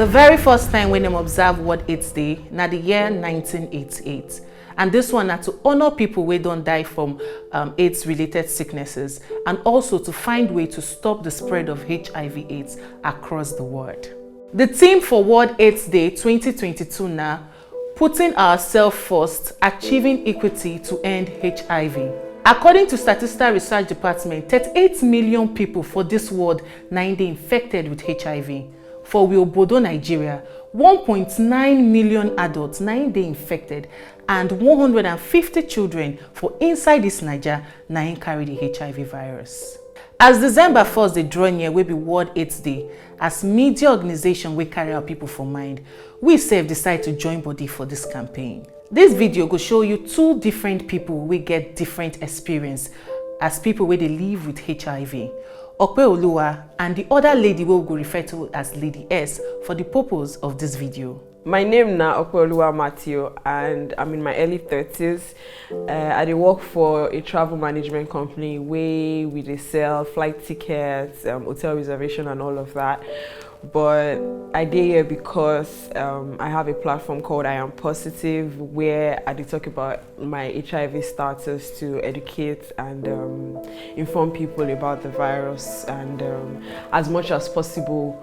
The very first time when them observe what it's day, na the year 1988. And this one na to honor people wey don die from um, AIDS-related sicknesses and also to find way to stop the spread of HIV AIDS across the world. Di theme for World Aids Day twenty twenty two na Putting Ourselves First, Achieving Equity to End HIV. According to Statista Research Department, thirty eight million pipo for dis world na im dey infected wit HIV. For we obodo Nigeria, one point nine million adults na im dey infected and one hundred and fifty children for inside dis Naija na im carry di HIV virus. As December first dey draw near wey be World Aids Day, As media organization wey carry our people for mind, we sef decide to join body for this campaign. This video go show you two different people wey get different experience as people wey dey live with HIV. Ope Oluwa and the other lady wey we go refer to as Lady S for the purpose of this video. My name na Opeoluwa Matthew and I'm in my early 30s. Uh, I dey work for a travel management company where we dey sell flight tickets, um, hotel reservation and all of that. But I dey here because um, I have a platform called I Am Positive where I dey talk about my HIV status to educate and um, inform people about the virus and um, as much as possible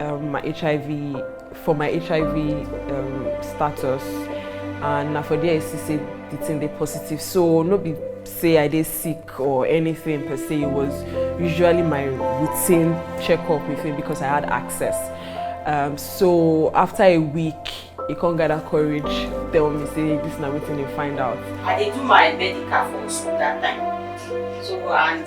Um, my HIV, for my HIV um, status, and na for there I see say the thing dey positive. So no be say I dey sick or anything per se. It was usually my routine checkup with him because I had access. Um, so after a week, he come gather courage, tell me say this na wetin he find out. I dey do my medical for hospital that time. So and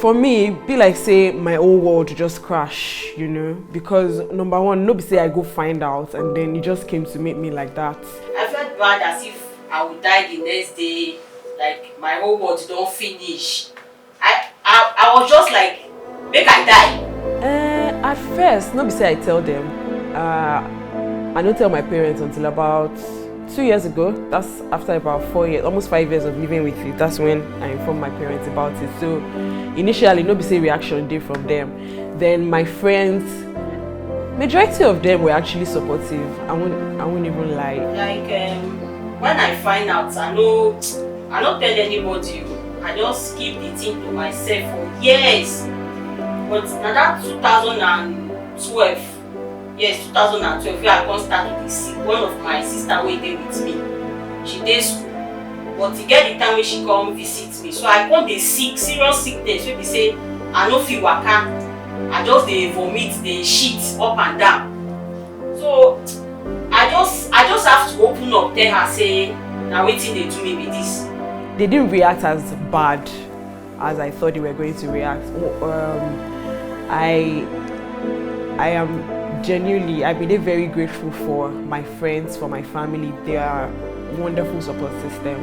for me be like say my whole world just crash you know because number one no be say i go find out and then you just came to meet me like that i felt bad as if i would die the next day like my whole world don't finish i i, I was just like make i die uh, at first no be say i tell them. uh, i no tell my parents until about two years ago that's after about four years almost five years of living with you that's when i informed my parents about it so initially no be say reaction dey from them. then my friends majority of them were actually supportive i won't i won't even lie like um, when i find out i no i no tell anybody I just keep the thing to myself for years. But na that 2012, yes, 2012, where I come start to dey see one of my sister wey dey with me. She dey school, but e get the time wey she come visit me. So I come dey sick, serious sickness wey be say I no fit waka. I just dey vomit, dey shit up and down. so i just i just have to open up tell her say na wetin dey do me be this. they didn't react as bad as i thought they were going to react um, i i am genuinely i believe very grateful for my friends for my family they are wonderful support system.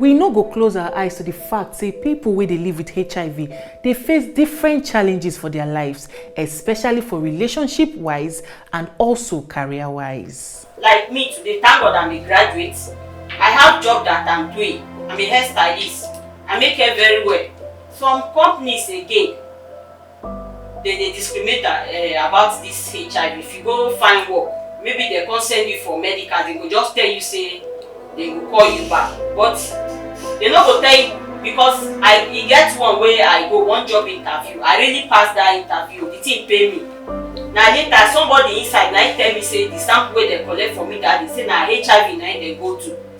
We no go close our eyes to di fact say pipo wey dey live wit hiv dey face different challenges for dia lives, especially for relationship-wise and also career-wise. Like me today thank God I'm a graduate, I have job that I'm doing, I'm a hairstylist, I make hair very well, some companies again. Dem dey discriminate um about dis HIV, if you go find work, maybe dem come send you for medical, dem go just tell you say dem go call you back, but dem no go tell you because I e get one wey I go, one job interview, I really pass dat interview, di thing pain me, na later somebody inside na im tell me say di sample wey dem collect from me dat day say na HIV na im dem go do.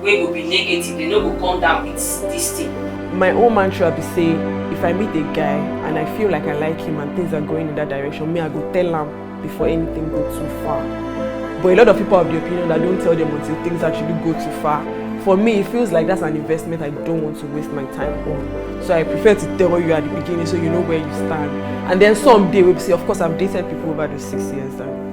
wey go be negative dem no go come down with this thing. my own mantra be say if i meet a guy and i feel like i like him and things are going in that direction me i go tell am before anything go too far but a lot of people have the opinion that don't tell them until things actually go too far for me it feels like that's an investment i don't want to waste my time on so i prefer to tell you at the beginning so you know where you stand and then someday we'll say of course i've dated people over the six years and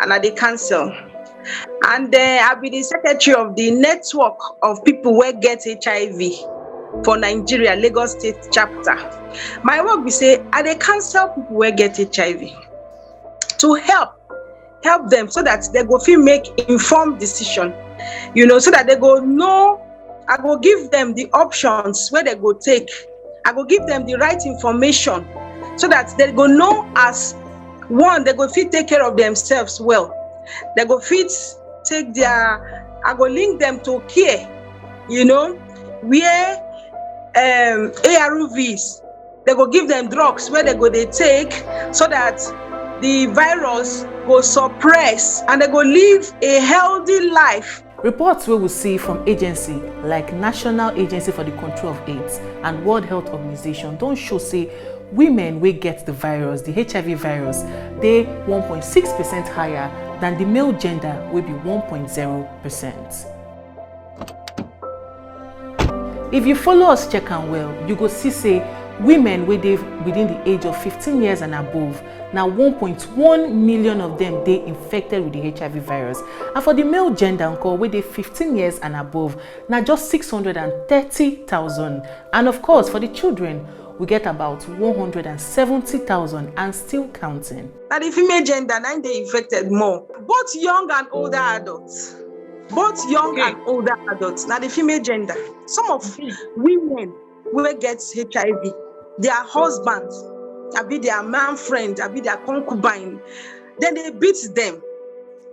and i dey cancel and den i be di secretary of di network of pipo wey get hiv for nigeria lagos state chapter my work be say i dey cancel pipo wey get hiv to help help dem so dat dem go fit make informed decision you know so dat dem go know i go give dem di options wey dem go take i go give dem di right information so dat dem go know as one dem go fit take care of themselves well dem go fit take their i go link them to care you know where um, arvs dem go give them drugs wey dem go dey take so that the virus go suppress and dem go live a healthy life Reports wey we see from agency like National Agency for the Control of AIDS and World Health Organization don show say women wey get the virus, the HIV virus, dey 1.6 percent higher than the male gender wey be 1.0 percent. if you follow us check am well you go see say women wey dey within di age of 15 years and above na 1.1 million of dem dey infected wit di hiv virus and for di male gender nko wey dey 15 years and above na just 630000 and of course for di children we get about 170000 and still counting. na di female gender na im dey infected more both young and older adults. both young okay. and older adults now the female gender some of mm-hmm. women will get hiv their husbands I be their man friend I be their concubine then they beat them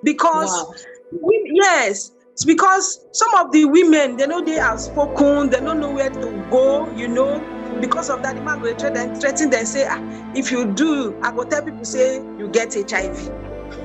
because wow. we, yes it's because some of the women they know they are spoken they don't know where to go you know because of that the man will threaten them threaten them say ah, if you do i go tell people say you get hiv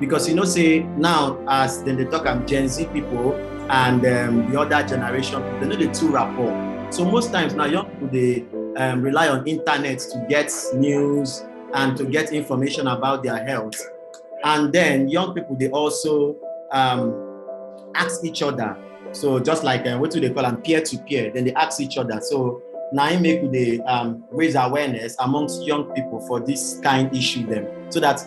because you know say now as then they talk am gen z people and um, the other generation they know the two rapport so most times now young people they um, rely on internet to get news and to get information about their health and then young people they also um, ask each other so just like uh, what do they call them peer to peer then they ask each other so now im make we dey um, raise awareness amongst young people for this kind issue them, so that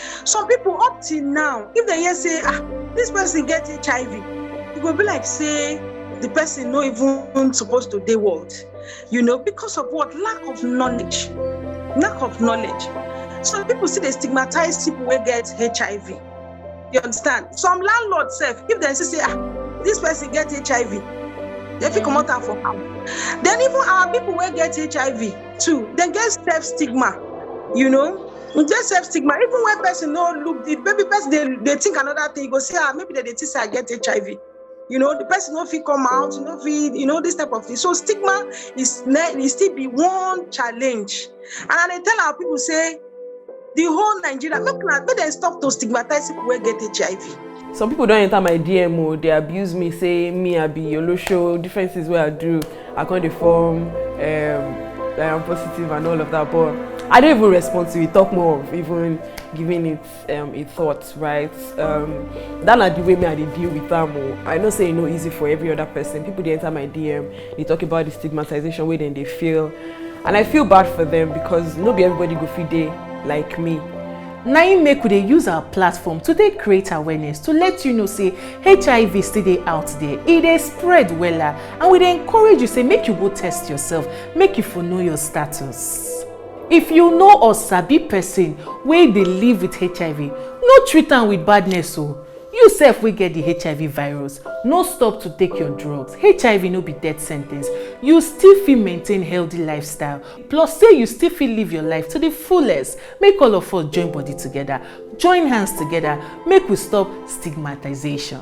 some people up till now if they hear say ah this person get hiv e go be like say the person no even suppose to dey world you know because of what lack of knowledge lack of knowledge some people still dey stigmatize people wey get hiv you understand some landlord sef if dem see say ah this person get hiv dem fit comot am for am then even our people wey get hiv too dem get self stigma you know e get self stigma even when person no look if maybe person dey dey think another thing you go say ah maybe dem dey think say i get hiv you know the person no fit come out you no fit you know this type of thing so stigma is ne e still be one challenge and i dey tell our people say the whole nigeria make una make dem stop to stigmatize people wey get hiv some people don enter my dm o dey abuse me say me i be olosho different things wey i do I come dey form um, I am positive and all of that but I don't even respond to it talk more of even giving it um, a thought right um, that na the way me I dey deal with am o I know say e no easy for every other person people dey enter my DM dey talk about the stigmatization wey dem dey feel and I feel bad for them because no be everybody go fit dey like me na im make we dey use our platform to take create awareness to let you know say hiv still dey out there e dey spread wella and we dey encourage you say make you go test yourself make you for know your status if you know or sabi person wey dey live with hiv no treat am with badness o oh. you sef wey get the hiv virus no stop to take your drugs hiv no be death sentence you still fit maintain healthy lifestyle plus say you still fit live your life to the fullest make all of us join body together join hands together make we stop stigmatization.